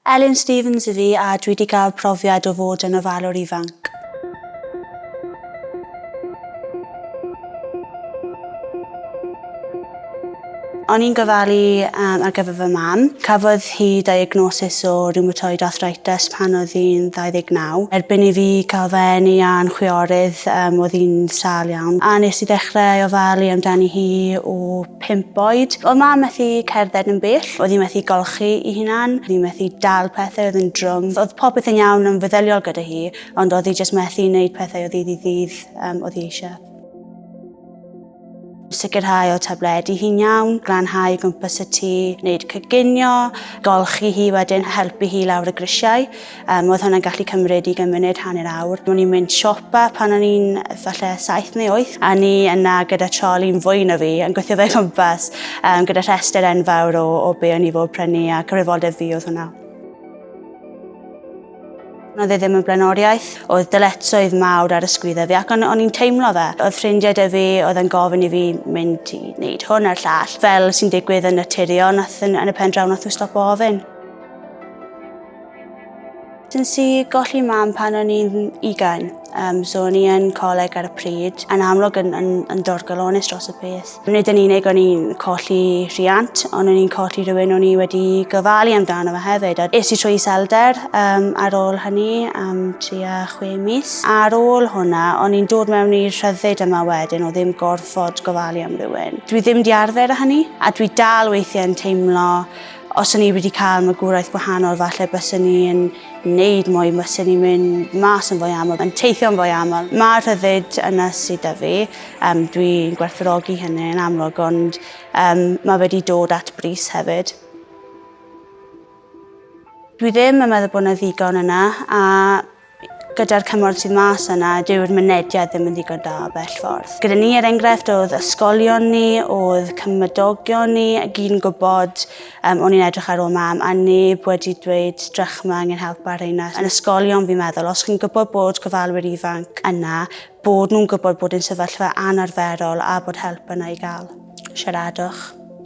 Elin Stephens ydw i a dwi 'di gael profiad o fod yn ofalwr ifanc. O'n i'n gofalu um, ar gyfer fy mam. Cafodd hi diagnosis o rheumatoid arthritis pan oedd hi'n 29. Erbyn i fi cael fy eni a'n chwiorydd um, oedd hi'n sâl iawn. A nes i ddechrau ofalu amdani hi o pump oed. Oedd mam methu cerdded yn bell, oedd hi methu golchi i hunan, oedd hi methu dal pethau oedd yn drwm. Oedd popeth yn iawn yn feddyliol gyda hi, ond oedd hi jyst methu wneud pethau o ddydd i ddydd um, oedd hi eisiau. Sicrhau o tabledu hi'n iawn, glanhau gwmpas y tŷ, wneud cyginio, golchi hi wedyn, helpu hi lawr y grisiau. Um, oedd hwnna'n gallu cymryd i gymryd hanner awr. O'n i'n mynd siopa pan o'n i'n falle saith neu oeth, a ni yna gyda trol i'n fwy na fi, yn gweithio fe gwmpas, um, gyda rhestr enfawr o, o be o'n i fod prynu a cyfrifoldeb fi oedd hwnna. Oedd e ddim yn blaenoriaeth, oedd dyletsoedd mawr ar ysgwydda fi ac o'n, on i'n teimlo fe. Oedd ffrindiau dy fi, oedd yn gofyn i fi mynd i wneud hwn a'r llall, fel sy'n digwydd yn naturiol, nath yn, yn y pen draw nath nhw stop o ofyn. Nes i golli mam pan o'n i'n ugain, um, so o'n i yn coleg ar y pryd, yn amlwg yn, yn, yn dorgalonus dros y peth. Nid yn unig o'n i'n colli rhiant, ond o'n i'n colli rhywun o'n i wedi gofalu amdano fe hefyd. A es i trwy iselder um, ar ôl hynny am tua chwe mis. Ar ôl hwnna, o'n i'n dod mewn i'r rhyddid yma wedyn o ddim gorfod gofalu am rhywun. Dwi ddim di arfer â hynny, a dwi dal weithiau'n teimlo Os o'n i wedi cael magwraeth gwahanol, falle byswn i'n neud mwy, byswn i'n mynd mas yn fwy aml, yn teithio'n fwy aml. Mae'r rhyddid yna sydd da fi, um, dwi'n gwerthfawrogi hynny yn amlwg, ond um, mae wedi dod at bris hefyd. Dwi ddim yn meddwl bod yna ddigon yna, a Gyda'r cymorth sydd mas yna, dyw'r mynediad ddim yn ddigon da bell ffordd. Gyda ni, er enghraifft, oedd ysgolion ni, oedd cymydogion ni, a gyn gwybod, um, o'n i'n edrych ar ôl mam, a neb wedi dweud drachma angen help ar reina. Yn ysgolion, fi'n meddwl, os chi'n gwybod bod gofalwyr ifanc yna, Bod nhw'n gwybod bod yn sefyllfa anarferol a bod help yna i gael. Siaradwch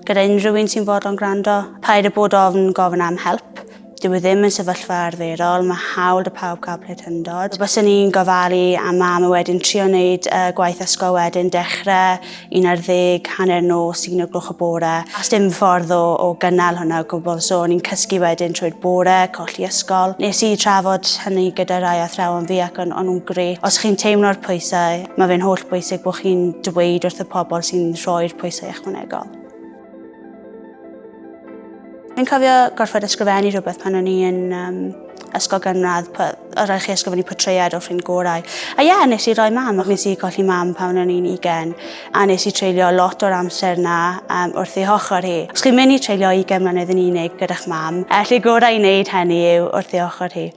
gyda unrhyw un sy'n fodlon gwrando. Paid â bod ofn gofyn am help. Dyw e ddim yn sefyllfa arferol, mae hawl da pawb cael plentyndod. Byswn i'n gofalu am mam a wedyn trio wneud y gwaith ysgol wedyn, dechrau 11, hanner nos, un o gloch y bore. A dim ffordd o, o gynnal hwnna o gwbl, so o'n i'n cysgu wedyn trwy'r bore, colli ysgol. Nes i trafod hynny gyda rai athrawon fi ac o'n, on nhw'n gret. Os chi'n teimlo'r pwysau, mae fe'n holl bwysig bod chi'n dweud wrth y pobl sy'n rhoi'r pwysau ychwanegol. Dwi'n cofio gorfod ysgrifennu rhywbeth pan o'n i yn um, ysgol gynradd, oedd rhaid chi ysgrifennu portread o ffrind gorau. A ie, yeah, nes i roi mam, ac nes i golli mam pan o'n i'n ugen, a nes i treulio lot o'r amser na um, wrth ei hochr hi. Os chi'n mynd i treulio ugen mlynedd yn unig gyda'ch mam, a lle gorau i wneud hynny yw wrth ei hochr hi.